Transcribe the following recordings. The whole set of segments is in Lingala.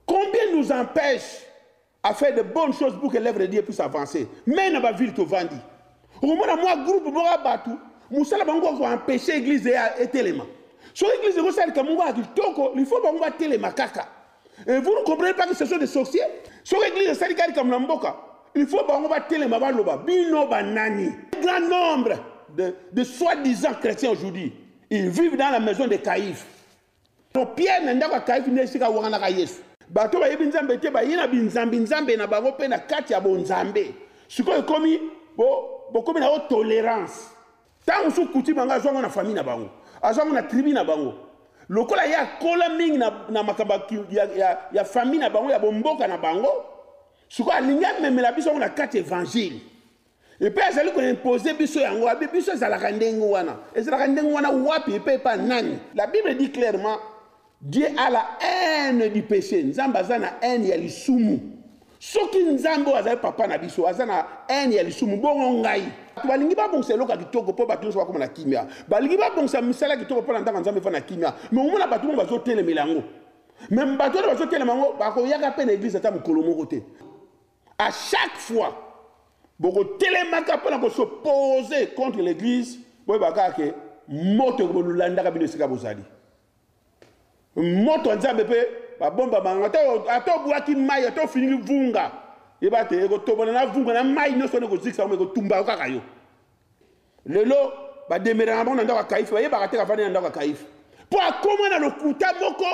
Combien nous empêche à faire de bonnes choses pour que l'œuvre de Dieu puisse avancer Mais dans la ville tovandi okomona mwa groupe moko ya bato mosala bango kaka koempêche église ya etelema soki église ekosalika moko ya kitoko lifo bango batelema kaka Et vous ne comprenez pas que ce sont des sorciers Sur l'église de Salikari comme l'Amboka, il faut bango ba telema ba loba, bino ba nani. Un grand nombre de, de soi-disant chrétiens aujourd'hui, ils vivent dans la maison de Caïphe. Donc Pierre na ndako ya Caïphe nde esika wanganaka Yesu. Bato bayebi Nzambe te, baye na binzambi Nzambe na bango mpe na kati ya bonzambe. Sikoyo ekomi bo bokomi na yo tolerance. Tango mosusu coutume yango azwa yango na famille na bango, azwa yango na tribu na bango. Lokola ye akola mingi na, na makambo ya, ya, ya famille na bango, ya bomboka na bango, sikoyo alingi amemela biso yango na kati evangile. Epe azali koimpose biso yango, abi biso ezalaka ndenge wana. Ezalaka ndenge wana wapi epe epa nani? La Bible dit clairement Dieu a la haine du peche. Nzambe aza na haine ya lisumu. Soki Nzambe oyo azali papa na biso aza na haine ya lisumu bongo ngai. Bato balingi babongisa eloko ya kitoko mpo bato nyonso bakoma na kimia. Balingi babongisa misala ya kitoko mpo na ndako ya Nzambe efana na kimia. Me omona bato bongo bazotelemela yango. Me bato wana bazotelema yango bakoyaka mpe na eglise ata mokolo moko te. A chaque fois bokotelemaka mpo na kosopose contre l'église boyebaka kaka ke moto ekobolandaka bino esika bozali. Moto ya Nzambe mpe babomba bango, ata obwaki mai, ata ofiniki vunga, yeba te ekotobana na vunga na mai nyonso wana ekozikisa yango, ekotumba yo kaka yo. Lelo bademeraka bango na ndako ya Kaife, bayebaka te kavandi na ndako ya Kaife mpo akoma na lokuta moko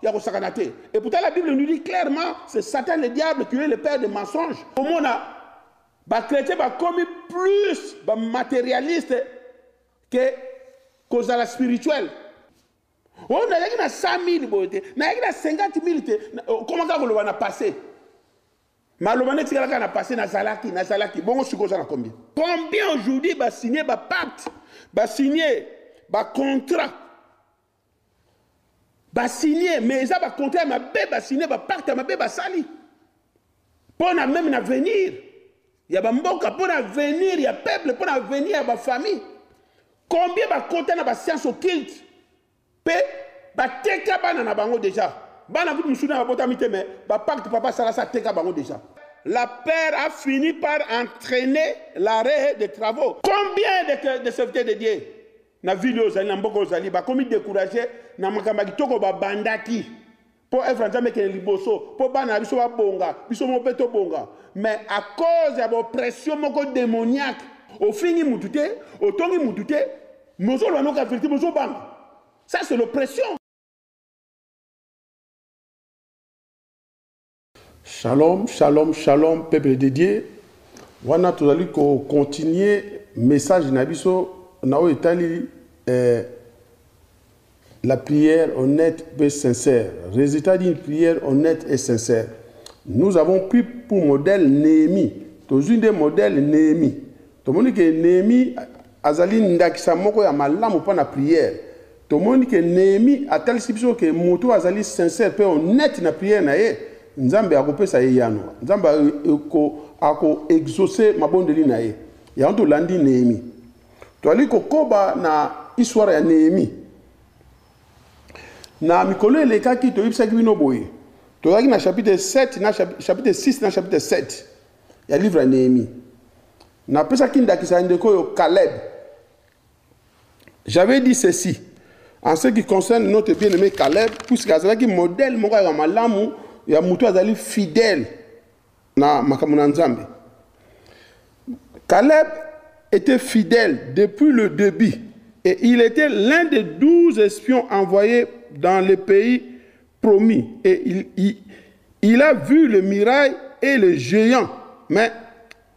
ya kosakana te. Et pourtant la Bible nous dit clairement c'est Satan le diable qui est le père de mensonges. Omona ba chrétiens bakomi plus ba matérialistes que kozala spirituel oyo oh, nayaki na 100 000 boye te nayaki na 50 000 te okomaka oh, koloba na passé maloba nde tikalaka na passé nazalaki nazalaki bongo sikoyo oza na combien combien aujourd'hui basigne bapacte basigne bacontrat Ba signe mais eza ba contrat ya mabe ba signe ba pacte ya mabe basali pona meme na avenir ya ba mboka pona avenir ya peuple pona avenir ya ba famille combien bakota na ba science occulte mpe bateka bana na bango deja bana kutu mosusu na babotami te me bapacte papa asalasi ateka bango deja la père a fini par entraîner l'arrêt des travaux. Combien de, de serviteurs de Dieu na ville oyo ozali na mboka oyo ozali bakomi decourage na makambo ya kitoko babandaki mpo evre ya nzambe ekende liboso mpo bana na biso babonga biso moko mpe tobonga mais à cause ya bopression moko démoniaque ofingi mutu te otongi mutu te mozoloba noka verité mozobanga ça c'est l'oppression Shalom, shalom, shalom, peuple de Dieu. Wana tozali ko continuer message na biso na oyo etali eh, la prière honnête et sincère. Résultat d'une prière honnête et sincère. Nous avons pris pour modèle Néhémie. Tozwi nde modèle Néhémie. Tomoni ke Nehemie azali ndakisa moko ya malamu mpo na prière. Tomoni ke Nehemie atalisi biso ke moto oyo azali sincère mpe honnete na prière na ye, Nzambe akopesa ye eyano. Nzambe ako, ako exaucer mabondeli na ye. Yango tolandi Nehemie. Toali kokoba na histoire ya Nehemie. Na mikolo elekaki, toyebisaki bino boye, tozalaki na chapitre 7 na chapitre 6 na chapitre 7. ya livre ya Nehemie. Napesaki ndakisa ya ndeko oyo Caleb. J'avais dit ceci en ce qui concerne notre bien-aimé Caleb, puisque azalaki modèle moko ya malamu ya moto azali fidèle na makambo na Nzambe. Caleb était fidèle depuis le début et il était l'un des douze espions envoyés dans le pays promis et il, il, il a vu le mirail et le géant mais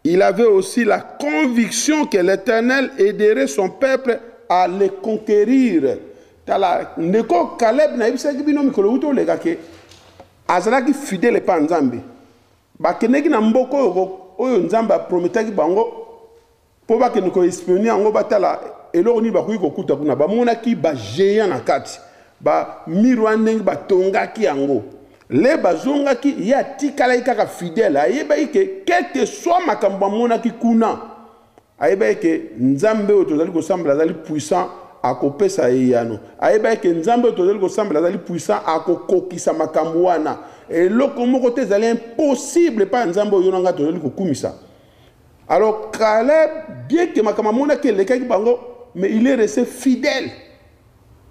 il avait aussi la conviction que l'Éternel aiderait son peuple à le conquérir. Tala, ndeko Caleb na yebisaki bino mikolo wuto leka ke azalaki fidèle pa Nzambe. Bakendeki na mboko oyo oyo Nzambe aprometaki bango Po bakende ko espionner yango batala eloko nini bakoki kokuta kuna. Bamonaki ba geants na kati. Ba mur wana ndenge batongaki yango. Le bazongaki ye atikalaki kaka fidele. Ayebaki ke quel que soit makambo bamonaki kuna, ayebaki ke Nzambe oyo tozali kosambela azali puissant, akopesa eyano. Ayebaki ke Nzambe oyo tozali kosambela azali puissant, akokokisa makambo wana. Eloko moko te ezali impossible epai ya Nzambe oyo yo na ngai tozali kokumisa. Alors Caleb bien que makambo amonaki elekaki bango mais il est resté fidèle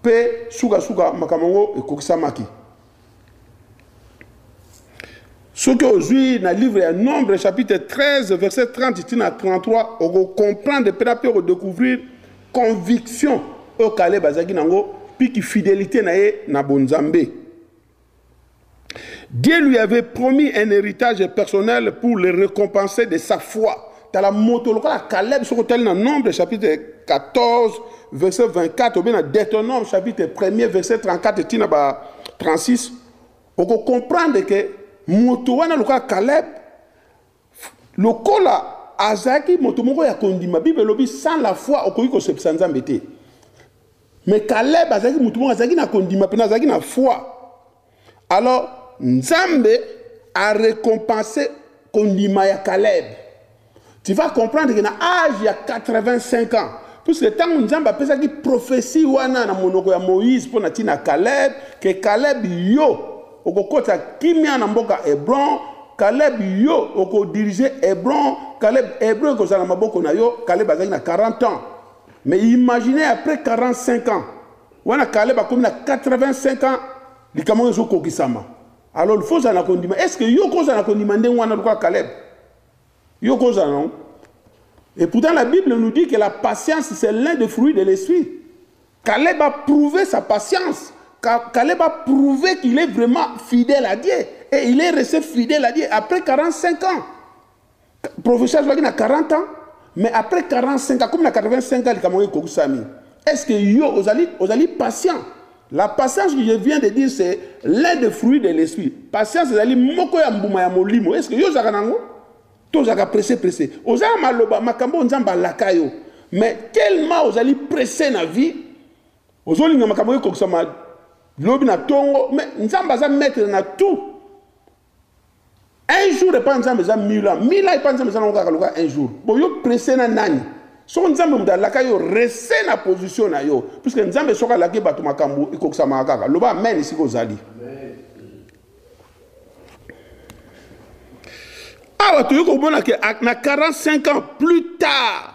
mpe sukasuka makambo yango ekokisamaki soki ozwi na livre ya nombre chapitre 13 verset 30 ti na 33 okocomprendre mpe na mpe okodécouvrir conviction oyo kaleb azalaki nango mpe kifidélité na ye na bonzambe Dieu lui avait promis un héritage personnel pour le récompenser de sa foi. Tala moto lokola Caleb soko tali na Nombre chapitre 14 verset 24 ou bien na Deutéronome chapitre 1 verset 34 tina ba 36 oko comprendre que moto wana lokola Caleb lokola azaki moto moko ya kondima Bible lobi sans la foi okoki ko sepsa Nzambe te. Mais Caleb azalaki mutu moko azalaki na kondima pena azalaki na foi. Alors Nzambe a récompensé kondima ya Caleb. Tu vas comprendre que na âge ya 85 ans puisque ntango nzambe apesaki profesi wana na monoko ya moïse mpo na ntina caleb ke caleb yo okokota kimia na mboka hebron caleb yo okodirige hebron caleb hebron ekozala na maboko na yo caleb azalaki na 40 ans Mais imaginez après 45 ans, wana Caleb akomi na 85 ans, likambo ezo kokisama. Alors il faut zana kondima. Est-ce que yo ko zana kondima ndenge wana lokola Caleb? Yo ko zana non? Et pourtant la Bible nous dit que la patience c'est l'un des fruits de l'esprit. Caleb a prouvé sa patience. Caleb a prouvé qu'il est vraiment fidèle à Dieu. Et il est resté fidèle à Dieu après 45 ans. Professeur azwaki na 40 ans mais après 45 akomi na 85 ans likambo yango ekokisami. Est-ce que yo ozali ozali patient? La patience que je viens de dire c'est l'un des fruits de l'esprit. Patience ezali moko ya mbuma ya molimo. Est-ce que yo ozalaka nango? To ozalaka pressé pressé. Ozala maloba makambo Nzambe alaka yo. Mais tellement ozali pressé na vie, ozolinga makambo ekokisama lobi na tongo, mais Nzambe aza maître na tout. un jour epai nzambe eza mille ans mille ans epai nzambe eza nango kaka lokola un jour boyo presse na nani soko nzambe moto alaka yo rese na position na yo puiske nzambe soki alaki bato makambo ekokisamaka kaka loba amen esika ozali awa toyei komona ke na 45 ans plus tard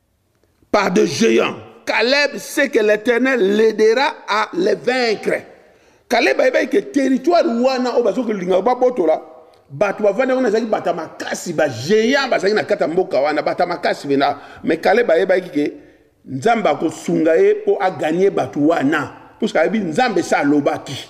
par des géants. Caleb sait que l'Éternel l'aidera à les vaincre. Caleb ayebaki que territoire wana oyo bazoki linga babotola bato bavandi yango nazalaki bata makasi bagéant bazalaki na kati ya mboka wana bata makasi mpenza mais caleb ayebaki ke nzambe akosunga ye mpo aganye bato wana puske ayebi nzambe se alobaki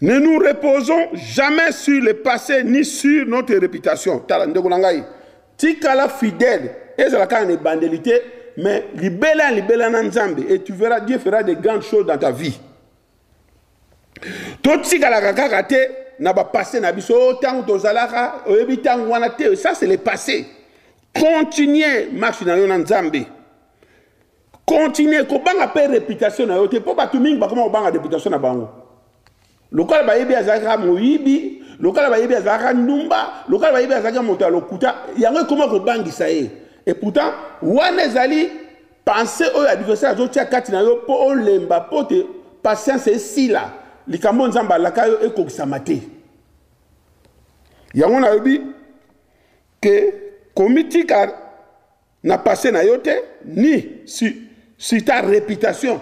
Ne nous reposons jamais sur le passe ni sur notre reputation. Tala ndeko na ngai, tikala fidèle, ezala kaka na ebandeli te, mais libela libela na Nzambe et tu verras Dieu fera de grandes choses dans ta vie. Totikalaka kaka te na ba passé na biso oh, tango tozalaka, oyebi tango wana te, ça c'est le passé. Continuez marche na yo na Nzambe. continue kobanga mpe reputation na yo te mpo bato mingi bakoma kobanga reputation na bango lokola bayebi azalaki kaka moyibi lokola bayebi azalaki kaka ndumba lokola bayebi azalaki kaka moto ya lokuta yango ekoma kobangisa ye et pourtant wana ezali pense oyo adversaire azotia kati na yo mpo olemba mpo te patience esila likambo nzambe alaka yo ekokisama te yango nayebi ke komitika na passe na yo te ni si, si ta réputation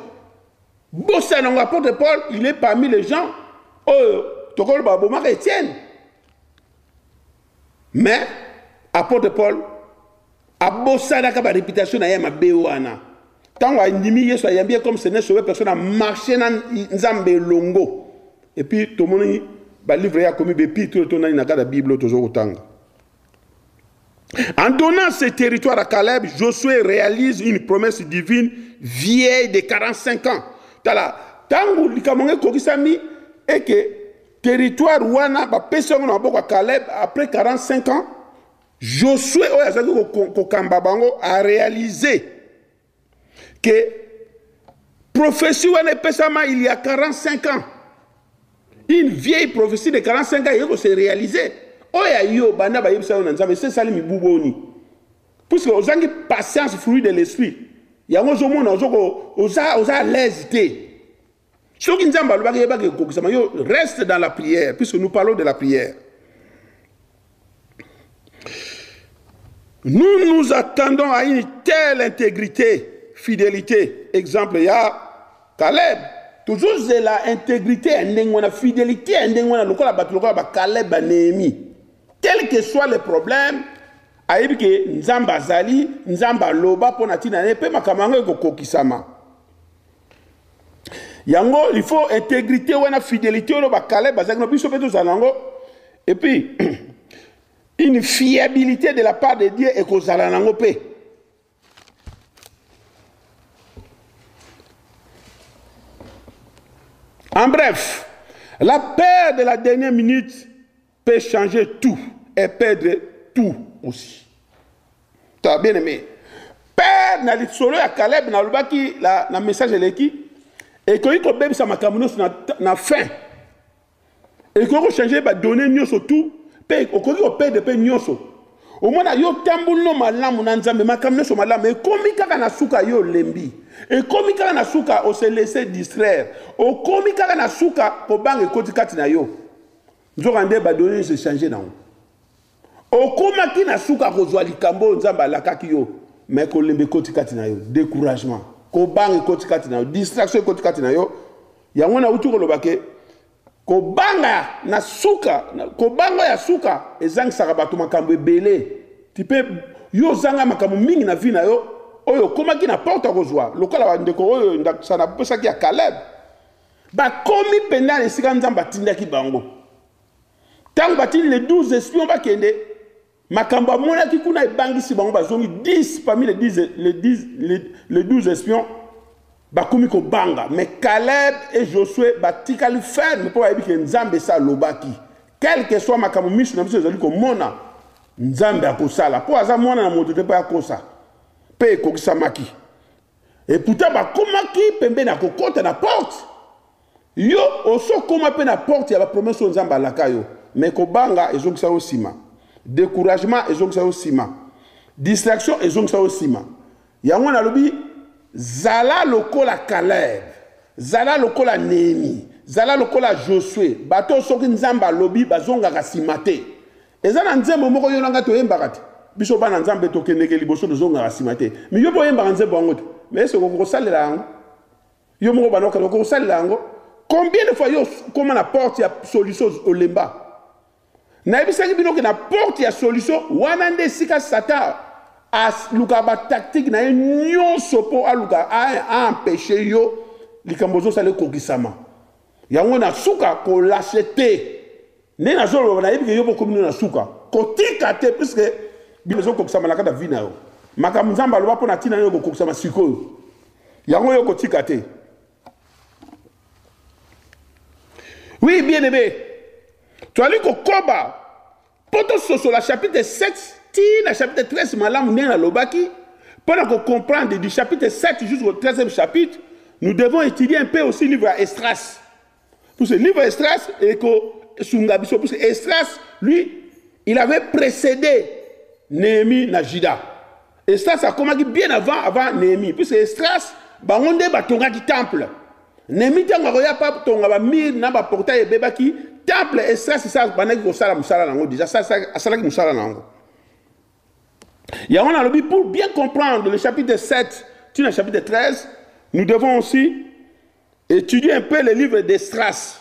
bosana ngo apôtre paul il est parmi les gens oyo tokoloba abomaka etienne mais apôtre paul abosanaka baréputation na ye ya mabe wana ntango andimi yesu ayambi ye comme seigneur sauve personne amarche na nzambe elongo epuis tomoni balivre ye akomi bepitro to nani na kati ya bible oyo tozo kotanga En donnant ce territoire à Caleb, Josué réalise une promesse divine vieille de 45 ans. Tala, tango likambo ngai kokisami et que territoire wana ba pesi yango na maboko ya Caleb après 45 ans, Josué oyo azaki kokamba bango a réaliser que prophétie wana epesama il y a 45 ans une vieille prophétie de 45 ans eye kose réaliser oyo ya yo banda bayebisa yo na nzambe esi esali mibu boni puisque ozangi patience fruit de l'esprit yango ozomona oza à l'aise te soki nzambe alobaki yebaki ekokisama yo reste dans la prière puisque nous parlons de la prière nous nous attendons à une telle intégrité fidélité exemple ya caleb tozozela intégrité ya ndenge wana fidélité ya ndenge wana lokola bato lokola bacaleb banehemi tel que soit le problème ayebi ke nzambe azali nzambe aloba mpo na ntina na ye mpe makambo yango ekokokisama yango il faut intégrité wana fidelité oyo bakale bazalaki na biso mpe tozala nango et puis une fiabilité de la part de dieu ekozala nango mpe en bref la peur de la dernière minute peut changer tout et perdre tout aussi. Tu as bien aimé. Père na lisolo ya Caleb na lobaki la na message eleki et que ko bebisa makambo nyonso na, na fin. Et ko changer ba données nyonso tout pe okoki ko perdre pe nyonso. omona yo tambuli no malamu na nzambe makambo nyonso malamu ekomi kaka na suka yo olembi ekomi kaka na suka ose laisse distraire okomi kaka na suka kobanga ekoti kati na yo Nzokande, badone nyonso echange nango. Okomaki na suka kozwa likambo oyo Nzambe alakaki yo, mais kolemba ekoti kati na yo, decouragement, kobanga ekoti kati na yo, distraction ekoti kati na yo. Yango nauti koloba ke kobanga na suka, kobanga ya suka ezangisaka bato makambo ebele. Tu peux yo ozanga makambo mingi na vie na yo oyo okomaki na porte ya kozwa lokola bandeko oyo ndakisa napesaki ya Caleb Bakomi mpenza na esika Nzambe atindaki bango. Ntango batindi les 12 espions bakende, makambo amonaki kuna ebangisi bango, bazongi 10 parmi les 10, les 10, les, les 12 espions bakomi kobanga. Mais Caleb et Josué batikali ferme mpo bayebi ke Nzambe esi alobaki. Quel que soit makambo miso na biso ezali komona, Nzambe akosala mpo aza mwana na moto te mpo akosa. Mpe ekokisamaki. Et pourtant bakomaki pembeni ya kokota na porte. Yo oso koma mpe na porte ya ba promesse oyo Nzambe alaka yo mais kobanga ezongisa yo nsima, decouragement ezongisa yo nsima, distraction ezongisa yo nsima. Yango nalobi zala lokola Caleb, zala lokola Nehemie, zala lokola Josue, bato oyo soki Nzambe alobi bazongaka nsima te. Eza na nzembo moko yo na nga toyembaka te biso bana nzambe tokendeke liboso tozongaka nsima te mi yo mpe oyembaka nzembo yango te ma ese okoki kosalela yango yo moko bana okende okoki kosalela yango combien de fois yo okoma na porte ya solution olemba nayebisaki bino ke na porte ya solution wana nde esika satan alukaka batactique na ye nyonso mpo alukaka aempeshe yo likambo ozosala ekokisama Yango na suka ko lache te. Nde nazo loba nayebi ke yo pe okomi na suka. Kotika te puisque bino ezo kokisama na kata vie na yo. Makambo Nzambe aloba mpo na tina na yo kokokisama sikoyo. Yango yo kotika te. Oui bien aimé. Toali kokoba Mpo tososola chapitre 7 tii na chapitre 13 malamu ndenge nalobaki, mpo na ko comprendre du chapitre 7 jusqu'au 13e chapitre, nous devons étudier un peu aussi livre ya Esdras. Parce que livre Esdras ekosunga biso, parce que Esdras, lui, il avait précédé Néhémie na Juda. Esdras akomaki bien avant avant Nehemie puisque Esdras bango nde batongaki temple. Nehemie ntango akoya pa tonga ba mur na ba portail ebebaki temple Esdras esa bandaki kosala mosala na yango déjà asalaki mosala na yango. Yango nalobi pour bien comprendre le chapitre 7 tu na chapitre 13 nous devons aussi étudier un peu le livre d'Esdras.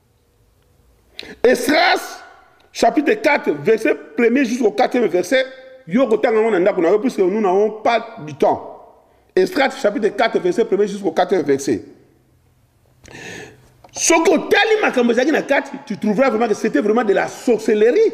Esdras chapitre 4 verset 1er jusqu'au 4e verset yo kotanga yango na ndako na yo puisque nous n'avons pas du temps. Esdras chapitre 4 verset 1er jusqu'au 4e verset. soki otali makambo ezalaki na kati tu trouveras vraiment que c'était vraiment de la sorcellerie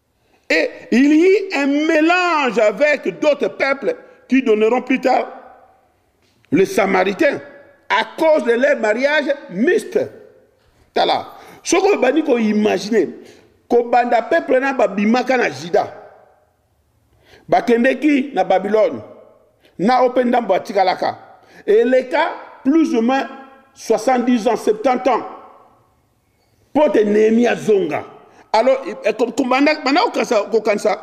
Et il y eut un mélange avec d'autres peuples qui donneront plus tard les Samaritains à cause de leur mariage mixte. Tala, ce que bani ko imaginer, ko banda peuple na babimaka na Juda, bakendeki na Babylone, na ope ndambo atikalaka, eleka plus ou moins 70 ans, 70 ans. mpo te nehemia azonga alors banda kokanisa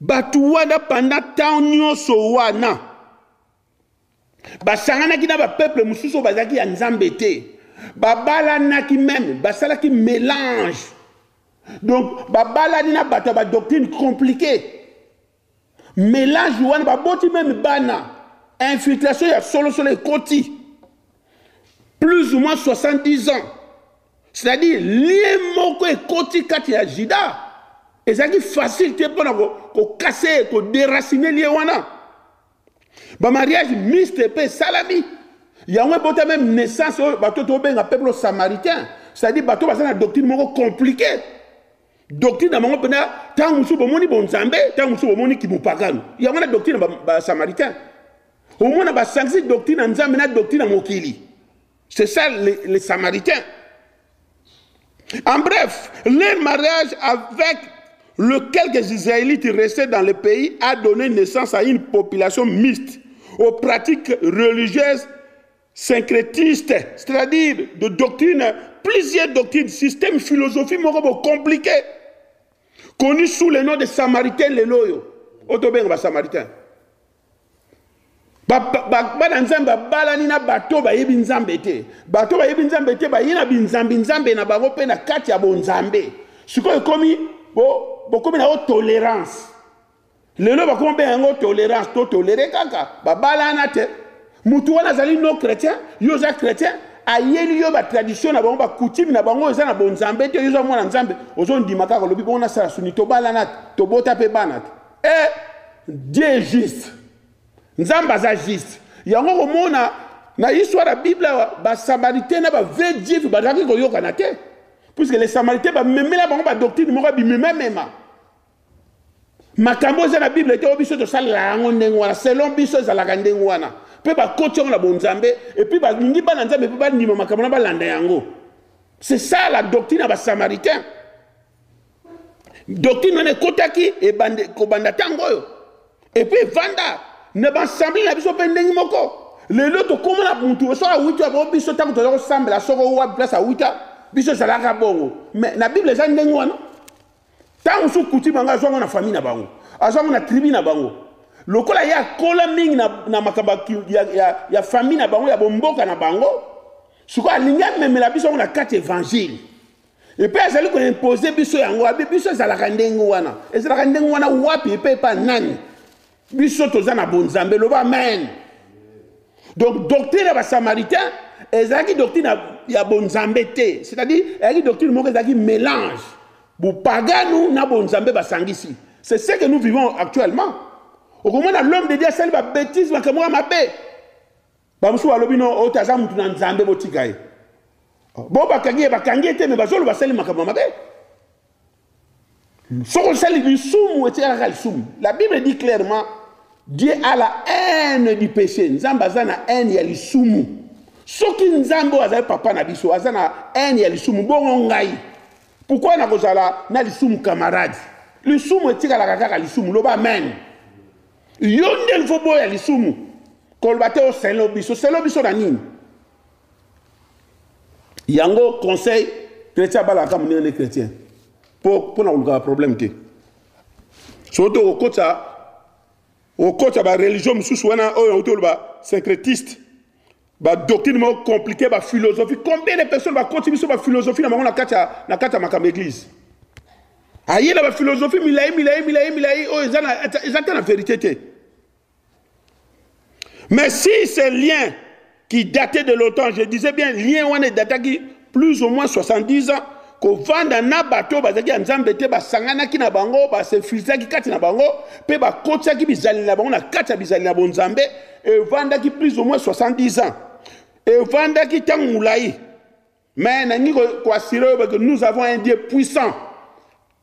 bato wana panda ntango nyonso wana basanganaki na bapeple mosusu oyo bazalaki ya nzambe te babalanaki meme basalaki mélange donc babalani na bato ya badoctrine compliqué Melage wana baboti meme bana infiltration ya solosolo ekoti plus ou moins 70 ans c'est-à-dire lie moko ekoti kati ya jida ezalaki facile te mpona kokase koderacine lie wana bamariage miste mpe esalami yango ebota meme naissance oyo bato tobenga peuple samaritain c'est-à-dire bato baza na doctrine moko compliqué doctrine na bango mpena ntango mosusu bomoni bonzambe ntango mosusu bomoni kimopakano yango wana doctrine na basamaritain ba omona basangisi doctrine na nzambe na doctrine na mokili c'est ça les, les samaritains en bref leur mariage avec le quelques israélites restés dans le pays a donné naissance à une population mixte aux pratiques religieuses syncrétiste, c'est-à-dire de doctrine, plusieurs doctrines, système, philosophie, morobo, compliqué, connu sous le nom de Samaritain Leloyo. Otobenga ba Samaritain. bana nzambe babalani na bato bayebi nzambe te bato bayebi nzambe te baye na binzambi nzambe na bango mpe na kati ya bonzambe sikoyo ekomi bokomi na yo tolerance lelo bakoma mpe yango tolerance to tolere kaka babalana te motu wana azali no chrétien yo oza chrétien ayeli yo batradition na bango bakoutime na bango eza na bonzambe te yo oza mwana nzambe ozondima kaka olobi bongo nasala suni tobalana te tobota mpe bana te e eh, dieu juste nzambe aza juste yango komona na histoire ya bible awa basamaritaine na bavrai juif bazalaki koyokana te puiske les samaritaine bamemela bango badoctrine moko ya bimemamema makambo eza na bible te oyo biso tosalela yango ndenge wana selon biso ezalaka ndenge wana mpe bakoti yango na bonzambe epuis balingi bana nzambe mpe bandima makambo na balanda yango c'est ça la doctrine ya basamaritain doctrine wana ekotaki kobanda ntango oyo epuis evanda na baassemble na biso mpe ndenge moko lelo tokóma na motu soki awuti yango biso ntango toza kosambela soko wapi place awuta biso ezalaka bongo mais na bible eza ndenge wana Tango mosusu coutume yango azwa yango na famille na bango, azwa yango na tribu na bango. Lokola ye akola mingi na, na makambo ya, ya, ya famille na bango, ya bomboka na bango, sikoyo alingi amemela biso yango na kati evangile. Epe azali koimpose biso yango, abi biso ezalaka ndenge wana. Ezalaka ndenge wana wapi epe epa nani? biso toza na bonzambe loba amen donc doctrine ya basamaritain ezalaki doctrine ya bonzambe te c'est-à-dire ezalaki doctrine moko ezalaki mélange bopaganu na bonzambe basangisi c'est ce que nous vivons actuellement okomona l'homme de dieu asali babétise makambo ya mabe Bamosusu balobi no oyo te aza motu na Nzambe botika ye. Bo bakangi ye bakangi ye te me bazoloba asali makambo mabe. Soki osali lisumu etikala kaka lisumu. La Bible dit clairement Dieu a la haine du péché. Nzambe aza na haine ya lisumu. Soki Nzambe oyo azali papa na biso aza na haine ya lisumu bongo ngai pourquoi nakozala na lisumu camarade lisumu etikalaka kaka lisumu loba amen Yo nde il faut boya lisumu koloba te osele obiso osele obiso na nini yango conseil chrétien abalaka monene nde chrétien mpo na kolukaka problème te soki to okokotisa okokotisa bareligion mosusu wana oyo auti oloba syncrétiste ba doctrine moko compliqué ba philosophie combien de personnes bakoti biso ba philosophie na bango na kati ya na kati ya makambo église aye na ba philosophie milayi milayi milayi milayi oyo eza na eza te na vérité te mais si ce lien qui datait de longtemps je disais bien lien wana edataki plus ou moins 70 ans kovanda na bato oyo bazalaki ya nzambe te basanganaki na bango basinfiltraki kati na bango mpe bakotisaki bizaleli na bango na kati ya bizaleli na bonzambe evandaki plus ou moins 70 ans evandaki ntango molai mais nalingi koasire oyo bake nous avons un dieu puissant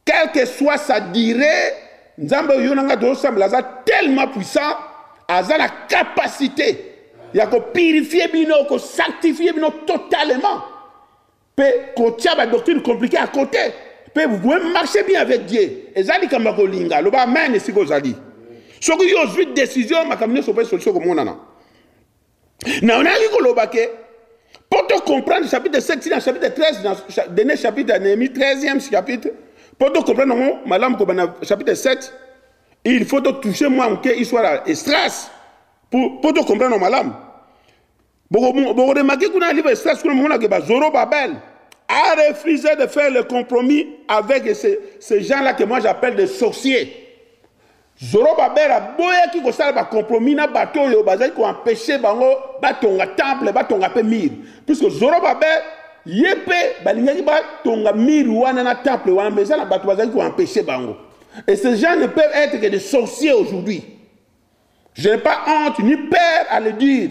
Quel que soit sa durée, Nzambe oyo na ngai tozosambela aza tellement puissant, aza na capacité ya kopurifie bino, kosanctifie bino totalement, mpe kotia badoctrine compliqué à côté, mpe vous pouvez marcher bien avec Dieu. Eza likambo ya kolinga, loba amen esika ozali. Soki yo ozwi decision, makambo nyonso mpe solution komonana. Na onaki koloba ke pour to comprendre chapitre 7 na chapitre 13 na dernier chapitre ya Nehemie 13e chapitre pour to comprendre ngo malamu ko bana chapitre 7 il faut to toucher moi moke histoire ya Esdras pour pour to comprendre malamu. Boko boko remarquer kuna livre Esdras kuna mona ke ba Zoro Babel a refusé de faire le compromis avec ces, ces gens-là que moi j'appelle des sorciers. Zorobabel aboyaki kosala ba compromis na bato oyo bazali ko empecher bango batonga temple, batonga pe mur. Puisque Zorobabel ye pe balingaki batonga mur wana na temple wana mais eza na bato bazali ko empecher bango. Et ces gens ne peuvent être que des sorciers aujourd'hui. Je n'ai pas honte ni peur à le dire.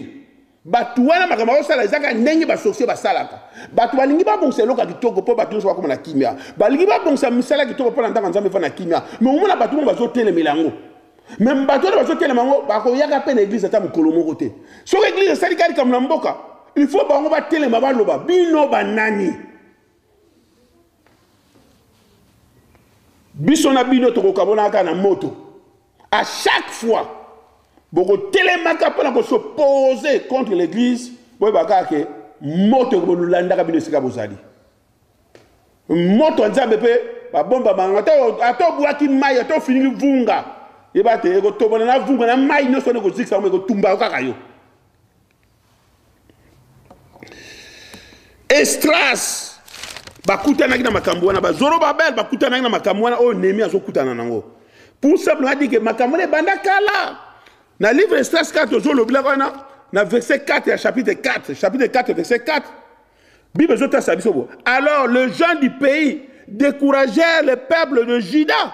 Bato wana makambo bazosala eza kaka ndenge basorcier basalaka. Bato balingi babongisa eloko ya kitoko mpo bato nyonso bakoma na kimya. Balingi babongisa misala ya kitoko mpo na ndako ya Nzambe efanda na kimya. Me omona bato moko bazotelemela yango. Me bato wana bazotelema yango bakoyaka mpe na eglize ata mokolo moko te. Soki eglize esali kaka likambo na mboka, il faut bango batelema baloba bino banani? Biso na bino tokokabolaka na moto. A chaque fois bokotelemaka mpo na kosopose contre l'église boyeba kaka ke moto ekobolandaka bino esika bozali moto ya nzambe mpe babombama yango ata obwaki mai ata ofiniki vunga yeba te ekotobana na vunga na mai nyonso wana ekozikisa yango ekotumba yo kaka yo Estras bakutanaki na makambo wana bazoro babel bakutanaki na makambo wana oyo nemi azokutana nango pour simple adi ke makambo wana ebanda kala na livre Estras 4 tozolobelaka wana na verset 4 ya chapitre 4 chapitre 4 verset 4 bible ezotasa biso bo alors les gens du pays découragèrent le peuple de juda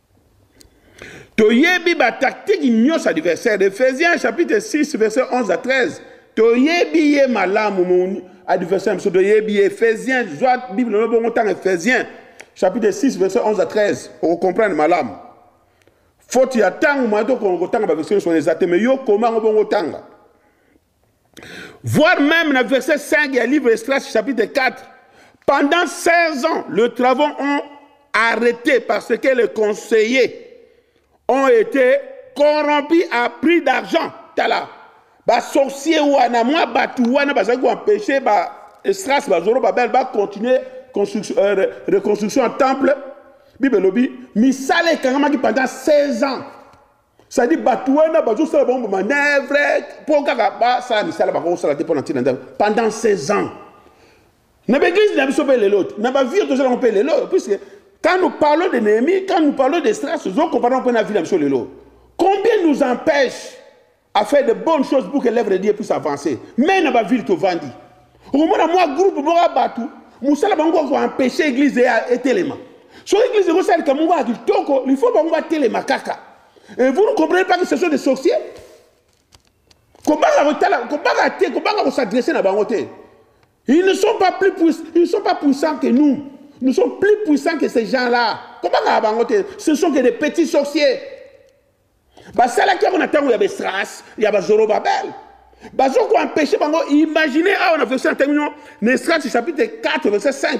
toyebi ba tactique nyonso adversaire Ephésiens chapitre 6 verset 11 à 13 toyebi ye malamu mon adversaire biso toyebi ye Ephésiens zwa bible no bongo ntanga Ephésiens chapitre 6 verset 11 à 13 okocomprendre malamu faute ya ntango moya tokotanga baversion nyonso wana eza te mais yo koma yango bongo otanga Voir même le verset 5 du livre Esdras chapitre 4. Pendant 16 ans, les travaux ont arrêté parce que les conseillers ont été corrompus à prix d'argent. Tala, ba sorciers wana, moi batu wana bazali ko empêcher ba Esdras bazoro babel ba continuer construction euh, reconstruction en temple. Bible lobi misala ekangamaki pendant 16 ans. sadi bato wana bazosala bango bamanevre mpo kaka basala misala bakoki kosala te mpo na ntina nzambe pendant 16 ans na baeglise na biso mpe lelo te na bavire tozala yango mpe lelo puisque quand nous parlons de néhémie quand nous parlons de stress tozokomparana mpe na vie na biso lelo combien nous empêche à faire de bonnes choses pour que l'œuvre de dieu puisse avancer mai na bavire tovandi okomona mwa groupe moko ya bato mosala bango kaka koempeshe eglize etelema soki eglize ekosala likambo moko ya kitoko lifo bango batelema kaka et vous ne comprenez pas que ce sont des sorciers kobanga kotala kobanga te kobanga kosadresse na bango te ils ne sont pas plus puissants ils ne sont pas puissants que nous nous sommes plus puissants que ces gens là kobanga ya bango te ce sont que des petits sorciers basalaki yango na ntango ya besras ya bazorobabel bazokoempeshe bango imagine awa na verse na ntango ino na esras chapitre 4 verse 5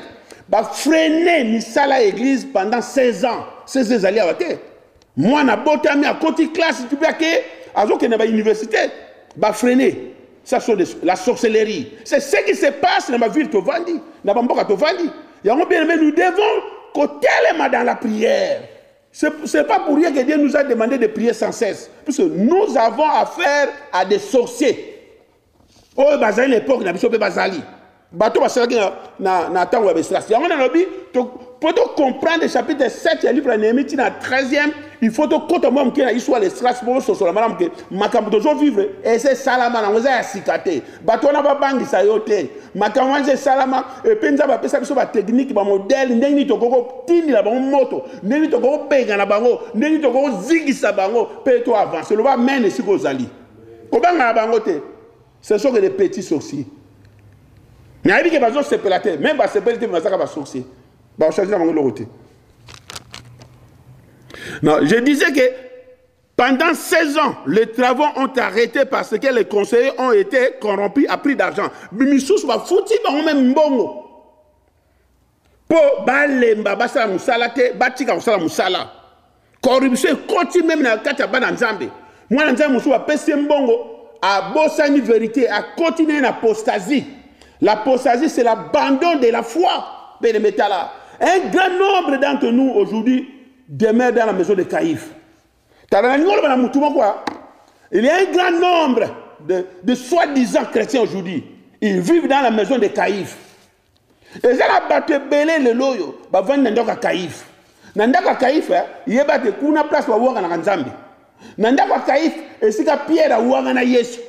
bafrene misala ya église pendant 16 ans 16 ezali awa te mwana abotami akoti classe tipe ake azokende na bauniversité bafrene ça sont des, la sorcellerie c'est ce qui se passe na bavile tovandi na bamboka tovandi yango bien aime nous devons kotelema dans la prière C'est pas pour rien que Dieu nous a demandé de prier sans cesse. Parce que nous avons affaire à des sorciers. Oh, bazali l'époque, na biso pe bazali. Bato basalaki na, na, na tango ya Besras. Yango na lobi, pour te comprendre le chapitre 7 du livre de Néhémie, na 13e, il faut te kota mwa moke na histoire ya Besras, pour sosola malamu ke makambo tozo vivre, et c'est salama na ngoza ya sikate. bato wana babangisa yo te makambo wana esalama epe nzambe apesa biso bateknike bamodele ndenge nini tokoki kotindela bango moto ndenge nini tokoki kobengana bango ndenge nini tokoki kozingisa bango mpe to avance loba amen esika ozali kobangana bango te ce sont que des petits sorciers nayebi ke bazosepela te meme basepeli te bazaka basorcier baochanger na bango eloko te non je disais que Pendant 16 ans, les travaux ont arrêté parce que les conseillers ont été corrompus à prix d'argent. Misusu ba fouti bango même mbongo. Po balemba basala musala te, batika kosala musala. Corruption ekoti même na kati ya bana Nzambe. Mwana Nzambe mususu apesi mbongo, abosani vérité, akoti na apostasie. L'apostasie c'est l'abandon de la foi. Benemetala. Un grand nombre d'entre nous aujourd'hui demeure dans la maison de Caïphe. tala nalingi oloba na motu moko il y a un grand nombre de, de soi-disant chrétiens aujourd'hui ils vivent dans la maison de caïf eza na bato ebele lelo oyo bavandi na ndako ya caïf na ndako ya caïf eh, yeba te kuna place bawanganaka nzambe na ndako ya caïf esika pierre awangana yesu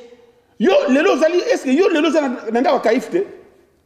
yo lelo ozali eske yo lelo oza na ndako ya caïf te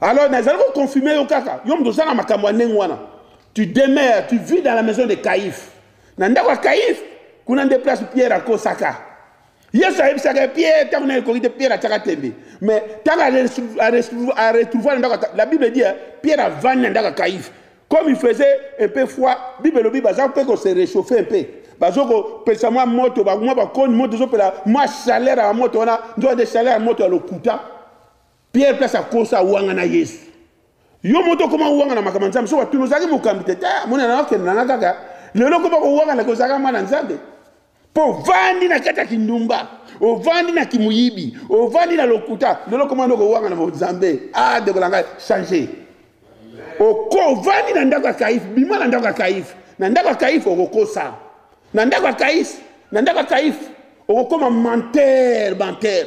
Alors, nazali ko confirmer yo kaka, yo moto ozanga makambo ya ndenge wana. Tu demeures, tu vis dans la maison de Caïphe. Na ndako ya Caïphe, kuna nde place Pierre akosaka. Yesu ayebisaka Pierre ntango na ekoki te Pierre atyaka tembe. Mais ntango a retrouver na ndako la Bible dit hein, Pierre avandi na ndako ya Caïphe. Comme il faisait un peu froid, Bible elobi baza mpe ko se réchauffer un peu. Bazo ko pesa mwa moto, ba mwa bakoni moto ezopela mwa chaleur ya moto wana, nzoka nde chaleur ya moto ya lokuta. Pierre place akosa awangana Yesu. Yo moto okoma owangana makambo ya Nzambe soki batuni ozalaki mokambi te te eh, amoni na okende nanga kaka lelo okoma kowangana ke ozalaka mwana Nzambe mpo ovandi na kati ya kindumba ovandi na kimuyibi ovandi na lokuta lelo okoma nde okowangana bo Nzambe ah ndeko na ngai change oko ovandi na ndako ya kaife bima na ndako ya kaife na ndako ya kaife okokosa na ndako ya kaife na ndako ya kaife okokoma menteur menteur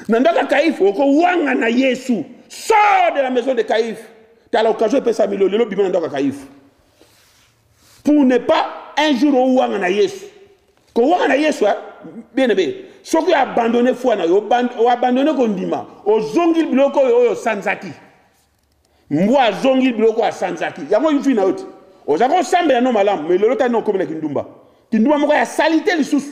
na ndako ya kaife okowangana yesu sort de la maison de kaife tala occasion epesami lelo bima na ndako ya kaife pour ne pas un jour owangana yesu kowangana yesu eh? bien aimé soki oabandone foi na yo oabandone kondima ozongi biloko oyo oyo osanzaki mbwa azongi biloko asanzaki yango yufi na yo te oza kosambela no malamu me lelo tani okomi na kindumba kindumba moko ya salite lisusu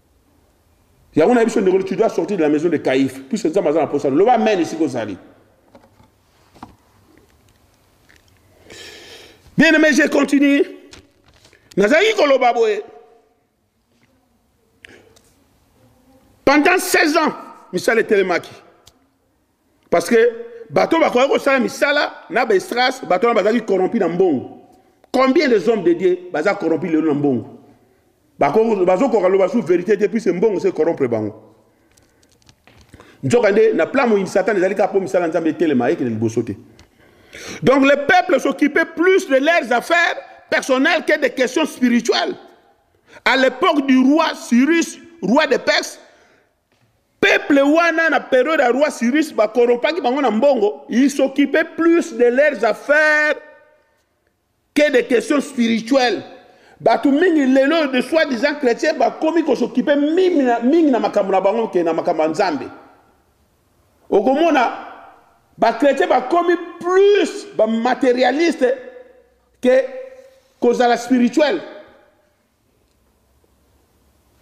yango na biso ndeko tu dois sortir de la maison de caïf puisque nzambe aza na posa loba amen esika ozali bien aimé je continue nazalaki koloba boye pendant 16 ans misala etelemaki Parce que bato bakoki kosala misala na bestras bato wana bazalaki corrompu na mbongo combien des hommes de dieu baza corrompu lelo na mbongo bazokoka loba su verité te puise mbongo se corrompre bango nzoka nde na plan moyini satana ezali kaka mpo misala nzambe etelema ekende liboso te donc le peuple s'occupait plus de leurs affaires personnelles que des questions spirituelles à l'époque du roi cyrus roi de perse Peuple wana na periode ya roi Cyrus ba corrompaki bango na mbongo, ils s'occupaient plus de leurs affaires que des questions spirituelles. Bato mingi lelo de soi disant chrétien bakomi ko s'occuper mingi na, mingi na makambo na bango ke na makambo ya Nzambe. Okomona ba chrétiens bakomi plus ba matérialistes que kozala spirituel.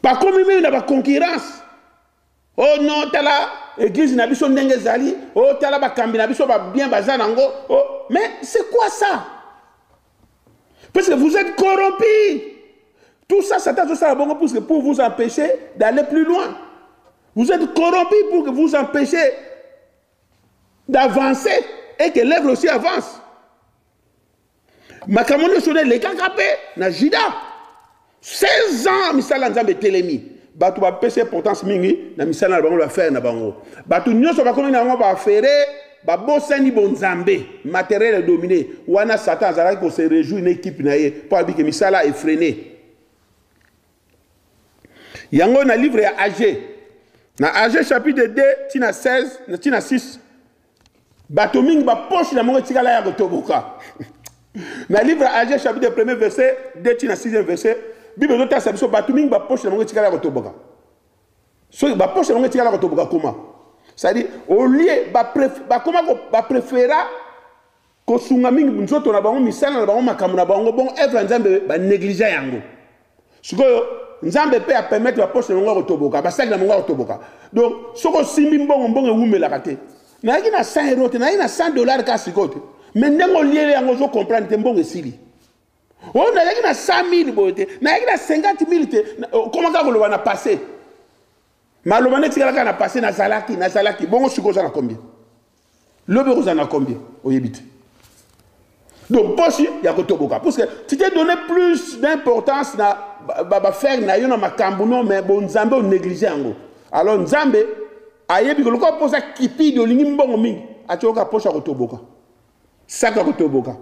bakomi meme na baconcurrence o oh no tala eglise na biso ndenge ezali o oh, tala bakambi na biso babien baza nango o oh, mais c'est quoi ça parce que vous êtes corrompu tout ça satan azosala bongo puisque pour vous empêcher d'aller plus loin vous êtes corrompu pour que vous empêcher d'avancer et que l'œuvre aussi avance makambo nyonso nde elekaka mpe na juda 16 ans misala nzambe etelemi bato bapesi importance mingi na misala na bango bafere na bango bato nyonso bakomi na yango bafere babosani bonzambe materiel edomine wana satan azalaki kose rejouir na ekipe na ye mpo abike misala efrene yango na livre ya age na age chapitre 2 ntina 16 ntina 6 Bato mingi ba poche na bango etikala ya kotoboka. Na livre Agee chapitre premier verset 2 ti na 6e verset, Bible ezotalisa biso bato mingi ba poche na bango etikala ya kotoboka. Soki ba poche na bango etikala kotoboka koma. C'est-à-dire au lieu ba ba koma ko ba prefera kosunga mingi nzoto na bango misala na bango makambo na bango bongo evre ya nzambe banegligea yango sikoyo nzambe mpe apermettre baposte na bango ya kotoboka basali na bango ya kotoboka donc soki osimbi mbongo mbongo ewumelaka te nayaki na 100 euro te nayaki na 100 dollar kaka sikoyo te me ndenge oliele yango ozocomprendre te mbongo esili oyo nayaki na 100 000 boye te nayaki na 50 000 te okoma kaka koloba na passe maloba netikalaka na passe nazalaki nazalaki bongo sikoyo oza na combien Lobi okozala na combien oyebi te. Donc posi ya kotoboka parce que tu t'es donné plus d'importance na ba ba faire na yo na makambo no mais bon Nzambe o négliger yango. Alors Nzambe ayebi ko lokola posa kipidi olingi mbongo mingi atyoka posa kotoboka. Saka kotoboka.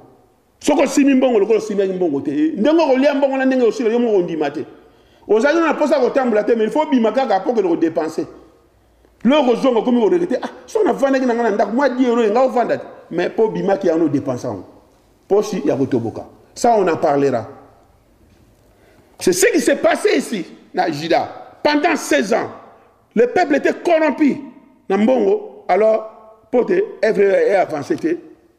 Soko osimi mbongo lokola osimbiaki mbongo te eh, ndenge okolia mbongo na ndenge osila yo moko ondima te. Ozali na posa kotambola te mais il faut bima kaka po ke ko dépenser. Lelo kozonga okomi ko regrette ah soki navandaki na ngai na ndako mwa 10 euro enga ovanda te mais mpo obimaki yango odepense yango mposi ya kotoboka ça on en parlera c'est ce qui s'est passé ici na juda pendant 16 ans le peuple était corrompu na mbongo alors mpo te evre e avance te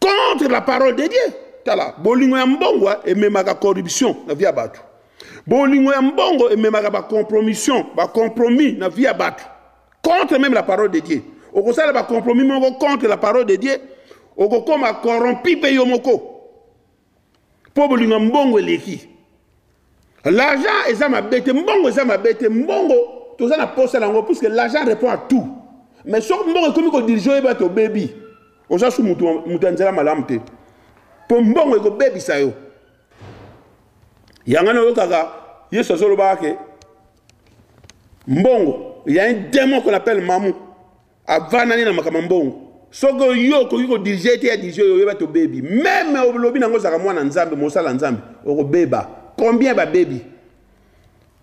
contre la parole de dieu tala bolingo ya mbongo eh, ememaka corruption na vie ya bato bolingo ya mbongo ememaka bacompromission bacompromis na vie ya bato contre meme la parole de dieu okosala bacompromis moko contre la parole de dieu okokoma corrompi mpe yo moko mpo bolingo ya mbongo eleki l'argent eza mabe te mbongo eza mabe te mbongo toza na posa na yango puisque l'argent répond à tout mais soki mbongo ekomi kodirige oyeba te obebi oza su moto ya nzela malamu te mpo mbongo ekobebisa yo yango nayokaka yesu azolobaka ke mbongo il y a un démon qu'on appelle mamu Avanda nde na makambo ya mbongo. Soki yo okoki ko dirige te ya dirige yo yeba tobebi. Meme olobi nango ozalaka mwana Nzambe, mosala Nzambe, okobeba. Combien babebi?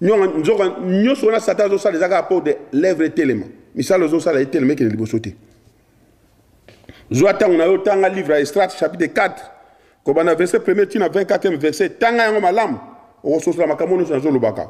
Nzoka nyoso wana Satan azosala eza kaka po de l'œuvre etelema. Misala ozosala etelema ekende liboso te. Zwa ntango na yo tanga livre ya Estrate chapitre 4 kobanda verset 1er tina 24e verset tanga yango malamu okososola makambo nyonso nazolobaka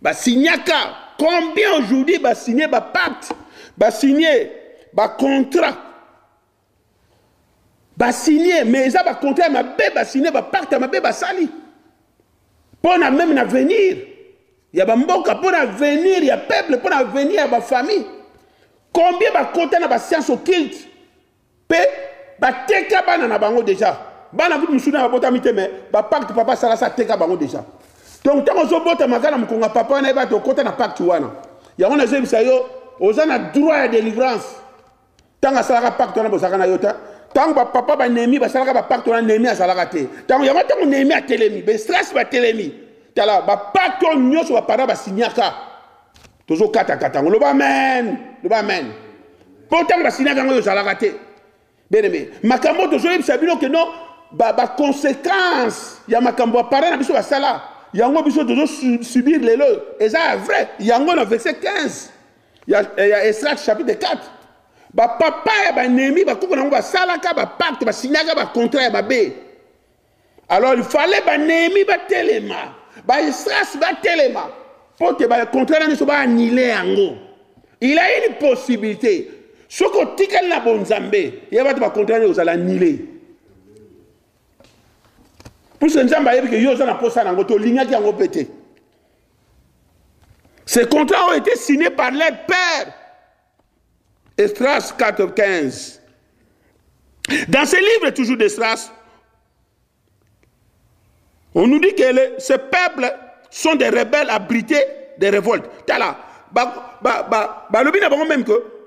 Ba signaka combien aujourd'hui ba signer ba pacte, ba signer ba contrat. Ba signer mais eza ba contrat ya mabe ba signer ba pacte ya mabe basali. Pona même na venir ya ba mboka, pona venir ya peuple, pona venir ya ba famille. Combien bakota na ba sciences occultes Pe bateka bana na bango deja. Bana kutu mususu na babotami te mais ba pacte papa sala sa teka bango deja. Donc tango zo bota makana mukonga papa na ba to kota na pacte wana. Yango na zebisa yo oza na droit ya délivrance. Tanga salaka pacte wana bozaka na yota. Tango ba papa ba nemi ba salaka ba pacte wana nemi azalaka te. Tango yango tango nemi atelemi, be stress ba telemi. Tala ba pacte nyoso ba para ba signaka. tozo kata kata ngo loba amen loba amen po tango basinaka ngo ozalaka te bien aimé makambo tozo yebisa bino ke non ba ba conséquence ya makambo apara na biso basala yango biso tozo subir lelo eza vrai yango na verset 15 ya, ya Esra chapitre 4 bapapa ya banemi bakoko na yango basalaka bapacte basinyaka bacontrat ya mabe alors il fallait banemi batelema baisras batelema mpo te bacontra na biso baanile yango il a une possibilité soki otikali na bonzambe ya bato bacontra nde ozala nile puisque nzambe ayebi ke yo oza na mposa na yango te olingaki yango mpe te ce contrat oyo ete signé par leur père Esdras 4, 15. Dans ce livre toujours d'Esdras, on nous dit que les, ces peuples sont des rebelles abrités des révoltes. Tala, ba, ba, ba, ba, lobi na bango même que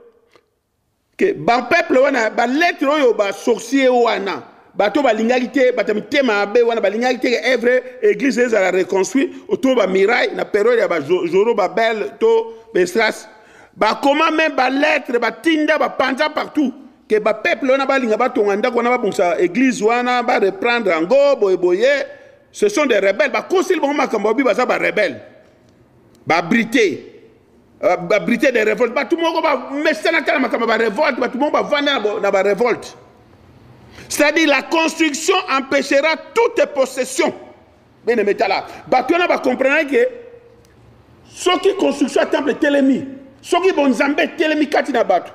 que ba peuple wana ba lettre oyo ba sorcier wana bato balingaki te bato ya mitema mabe wana balingaki te ke evre église ezala reconstruit autour ba miraille na periode ya ba joro babel to bestras bakoma me baletre batinda bapanza partout ke bapeuple wana balinga batonga ndako wana babongisa église wana bareprendre yango boyeboye ce sont des rebelles bakoseli bango makambo babi baza barebelle babrite euh, babrite de révolte bato moko bamesana tala makambo ya barevolte bato moko bavanda na barevolte c'est-à-dire la construction empêchera toute possession bien aimé tala bato wana bacomprenaki ke soki construction ya temple etelemi soki bonzambe etelemi kati na bato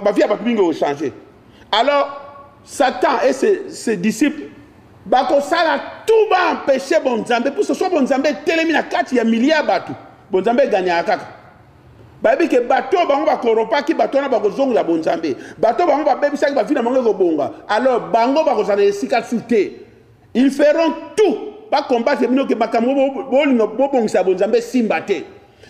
bavi ya bato mingi ochange alors satan et ses, ses disciples bakosala tout baempeshe bonzambe puso so bonzambe etelemi na kati ya milie ya bato bonzambe eganyaka kaka bayebi ke bato oyo bango bakoropaki bato wana bakozongela bonzambe bato oyo bango babebisaki bavi na bango ekobonga alors bango bakozala na esika su te Ils feront tout ba combattre bino ke makambo bolinga bobongisa bonzambe simba te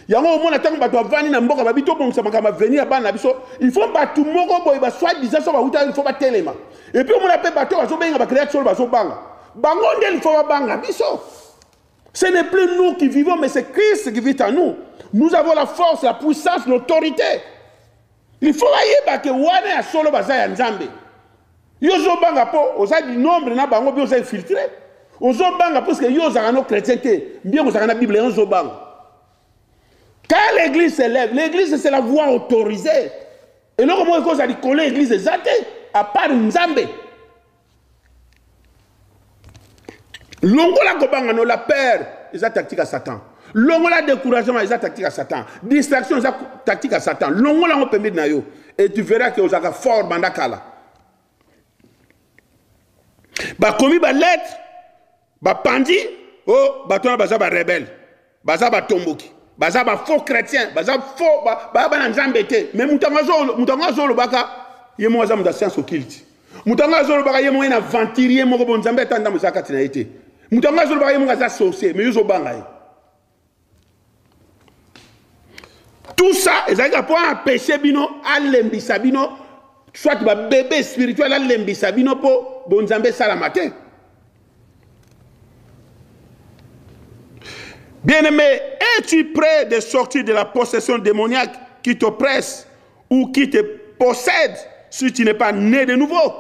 yango omona ntango bato bavandi na mboka babi tobongisa makambo avenir ya bana na biso il faut bato moko boye baswai disant so bauta il faut batelema epuis omona mpe bato bazobenga bacreate solo bazobanga bango nde il faut babanga biso ce n'est plus nous qui vivons mais c'est christ qui vit en nous nous avons la force la puissance l'autorité Il faut bayeba ke wana ya solo baza ya Nzambe. Yo ozobanga mpo oza du nombre na bango mpe oza infiltre. Ozobanga parce que yo ozalaka no chrétien te, bien kozalaka na Bible yango ozobanga. Quand l'église se lève, l'église c'est la voix autorisée. Et non, comment est-ce que l'église est à part Nzambe? longola kobanga no la peur eza tactique ya satan longola découragement eza tactique ya satan distraction eza tactique ya satan longola yango pembeni na yo et tu verras ke ozalaka fort banda kala bakomi balette Ba panzi oh bato wana baza ba rebelle, baza batomboki, baza ba faux chrétien, baza faux ba ba bana nzambe te. Mais mutango azolo mutango azolo baka ye mo aza muta science occulte. Mutango azolo baka ye mo ena aventurier moko bon nzambe atanda mo zakati na ye te. Mutango azolo baka ye mo aza sorcier mais yo zo banga ye. tout ça ezalaki mpo ampeshe bino alembisa bino soit babebe spirituel alembisa bino mpo bonzambe esalama te bien-aimé es-tu près de sortir de la possession démoniaque qui t'oppresse ou qui te possède si tu n'es pas né de nouveau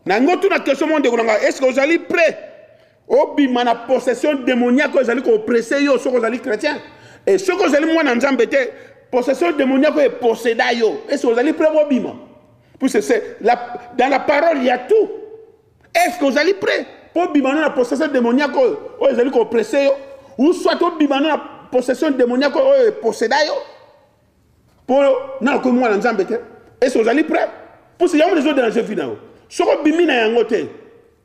na yango tuna question mo ndeko na ngai est ce que ozali près obima na possession demoniaque oyo ezali kopresse yo soki ozali chrétien e soki ozali mwana nzambe te possession demoniaque oyo eposeda yo ese ozali prêt kobima puisque c'est la, dans la parole ya tout est ce que ozali prêt mpo obima no na possession demoniaque oyo oyo ezali kopresse yo ou soit obima no na possession demoniaque oyo eposeda yo mpo na okomi mwana nzambe te ese ozali prêt puisque yango nde ezodela jevi na yo soki obimi na yango te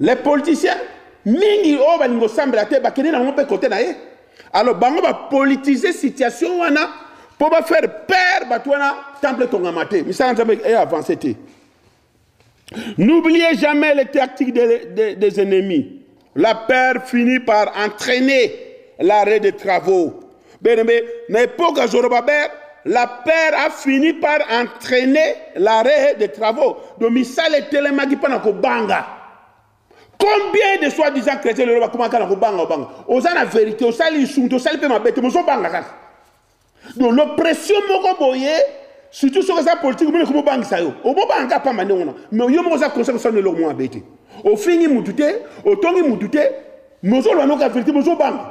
Les politiciens mingi oyo balingi kosambela te bakende nango mpe kote na ye alors bango bapolitise situation wana mpo bafaire pere bato wana temple etongama te misala nzambe e eh, avance te n'oubliez jamais les tactiques des, des, des ennemis la peur finit par entraîner l'arrêt des travaux Benembe, na epoque ya Zorobabel, la paire a fini par entraîner l'arrêt des travaux. Donc misala etelemaki mpo na kobanga. Combien de soi-disant chrétiens lelo bakomaka na kobanga obanga? Oza na vérité, osali lisumu te, osali mpe mabe te, mozobanga kaka. Donc l'oppression moko boye surtout soki eza politike omoni ekomi obangisa yo omobanga kaka mpamba ndenge wana mais yo moko oza conseil kosala eloko moko mabe te ofingi mutu te otongi mutu te mozolwa noka verité mozobanga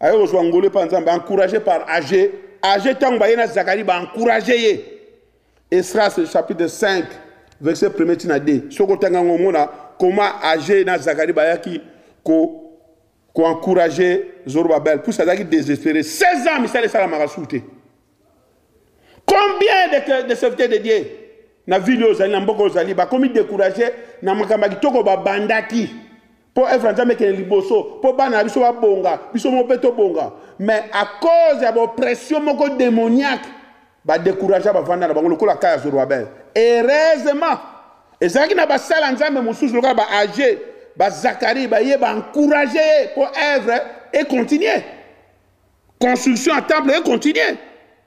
aye kozwa ngolu epai nzambe encourage par age age ntango baye na zakari baencourage ye esras chapitre 5 verset premier ntina 2 soki otanga yango omona koma age na zakari bayaki koencourage ko zorobabel pusi azalaki désespéré 16 ans misala esalamaka su te combien de, de serviteurs de dieu na ville oyo ozali na mboka ozali bakomi décourage na makambo ya kitoko babandaki Mpo œuvre ya Nzambe ekende liboso, mpo bana na biso babonga, biso moko mpe tobonga. Mais à cause ya b'oppression moko demoniaque, ba decouragea bavanda na bango lokola ka ya Zorobabel. Heureusement, ezalaki na basala Nzambe mosusu lokola ba Age, ba Zacharie, baye ba encourager ye mpo œuvre e continuer. Construction ya temple e continuer.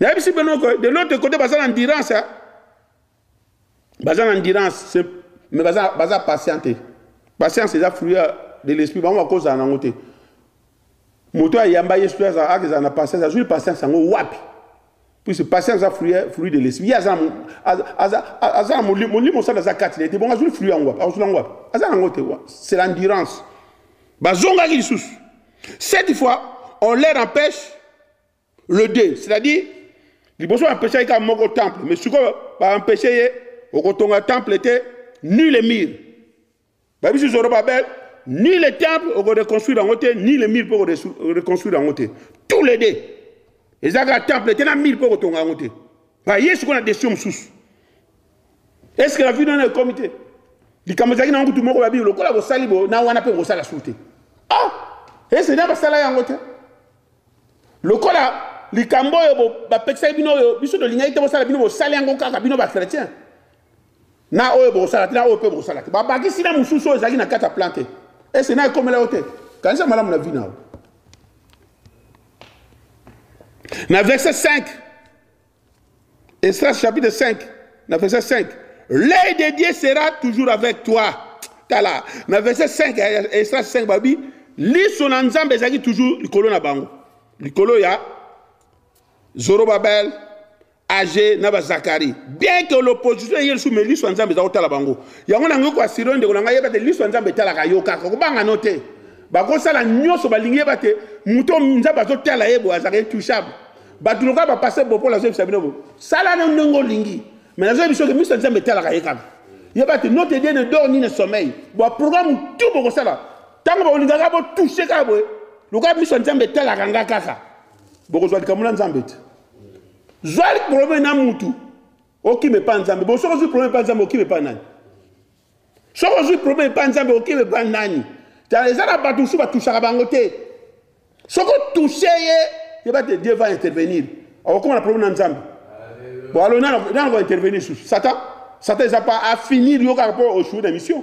Nayebisi bino que de l'autre côté baza na endurance. Hein? Baza na endurance, mais baza baza patiente. Patience eza fruit de l'esprit, bango bakozala nango te. Moto ayamba Yesu aza aza na patience, azui patience yango wapi? Puisque patience eza fruit fruit de l'esprit. Aza aza aza molimo molimo sana aza kati na ye te. Bongo azui fruit yango wapi? Azui yango wapi? Aza nango te. C'est l'endurance. Bazongaki lisusu. Cette fois, on leur empêche le deux c'est à dire liboso baempesaki kaka moko temple mais sikoyo baempeshe ye okotonga temple te ni le mire babisi zorobabel ni le temple okoreconstruire yango te ni le mire mpe okoreconstruire yango te tous les deux eza kaka temple te na mire mpe okotonga yango te baye sikoyo na desio mosusu est ce que na vino wana ekomi te likambo ezalaki na nkutu moko babi lokola bosali bo na wana mpe bosala su te ah ese na basala yango te Lokola likambo oyo bapekisaki bino oyo biso tolingaki te bosala bino bosali yango kaka bino bachrétien na oyo bokosala te na oyo mpe bokosala te babakisi na mosusu oyo ezalaki na kati ya plan te ese na ekomela yo te kanisa malamu na vi na yo na verse 5 Esdras chapitre 5, na verset 5. L'œil de Dieu sera toujours avec toi. Tala, na verset 5, Esdras 5 babi, liso na Nzambe ezalaki toujours likolo na bango. Likolo ya Zorobabel, age na bazakari bien que l'opposition eye lisusu me liso ya nzambe eza kotala bango yango nango koasire ndeko na ngai yeba te liso ya nzambe etalaka yo kaka kobanga no te bakosala nyonso balingi yeba te moto nzambe azotala ye boye azalaka intouchable bato lokola bapase bopo nazoyebisa bino sala na ndenge olingi mai nazoyebi soki miso ya nzambe etalaka ye kaka yeba ete notre dieu ne dor ni ne sommeil baprogramme tu bokosala ntango bakolingaka botouche kaka boye lokola miso ya nzambe etalaka nga kaka bokozwa likambo na nzambe te zwa probleme na mutu okima epa nzambe bosoki ozwi probleme epa nzambe okima epa nani soki ozwi problème epa nzambe okebe ba nani tala eza na bato mosusu batushaka bango te soki otushe ye yeba te dieu va intervenir okokoma na problème na nzambe bon alo nana ko intervenir susu satan satan eza pa afinir yo kaka mpo oshoue na mission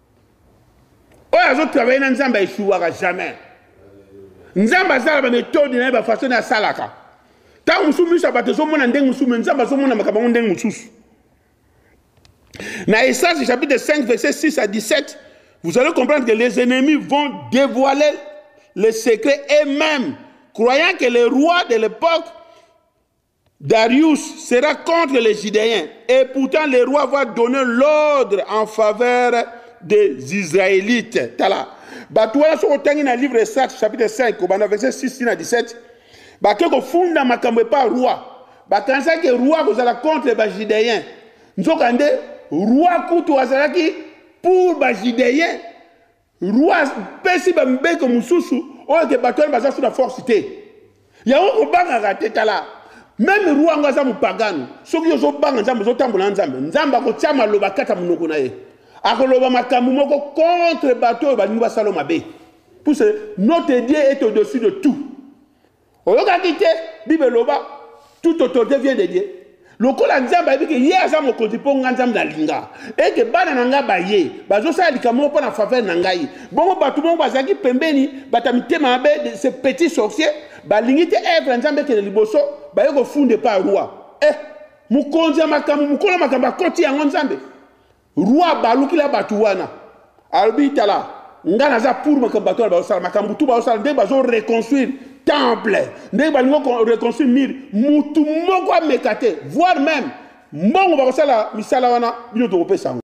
oyo azo travaille na nzambe aeshuwaka jamais nzambe aza na bametode na ye bafaso na asalaka ntango mosusu miso ya bato ezomona ndenge mosusu me nzambe azomona makambo yango ndenge mosusu na esage chapitre 5 verset 6 à 17 vous allez comprendre que les ennemis vont dévoiler les secrets et même croyant que les rois de l'époque Darius sera contre les Judéens et pourtant le roi va donner l'ordre en faveur des Israélites. Tala, bato wana soki otangi na livre Esat chapitre 5 kobanda verset 6 na 17 bake kofunda makambo epa roi bakanisaki roi akozala contre bajudéen nzokande roi kutu azalaki pour bajudéen Roi pesi ba mbeko mususu oyo ke bato wana baza sous la force te. Yango kobangaka te tala. Meme roi yango aza mupagano. Soki ozo banga Nzambe ozo tambola na Nzambe. Nzambe akotia maloba kata munoko na ye. Akoloba makambo moko contre bato oyo balingi basalo mabe. Puse notre Dieu est au-dessus de tout. oyokaki te bible eloba tout autorité vient de dieu lokola nzambe ayebi ke ye aza mokonzi mpo ngai nzambe nalinga eke bana na ngai baye bazosala likambo moko mpo na faveur na ngai bongo bato moko bazalaki pembeni bato ya mitema mabe ce petit sorcier balingi te evre ya nzambe ekende liboso baye kofunda epai roi eh mokonzi ya makambo mokolo makambo akoti yango nzambe Roi abaluki la batu wana alobi tala nga naza pour makambo bato wana bazosala makambo tu bazosala ndenge bazo reconstruire temple ndenge balingi reconstruire mire mutu moko ameka te voire même mbongo bakosala misala wana bino tokopesa yango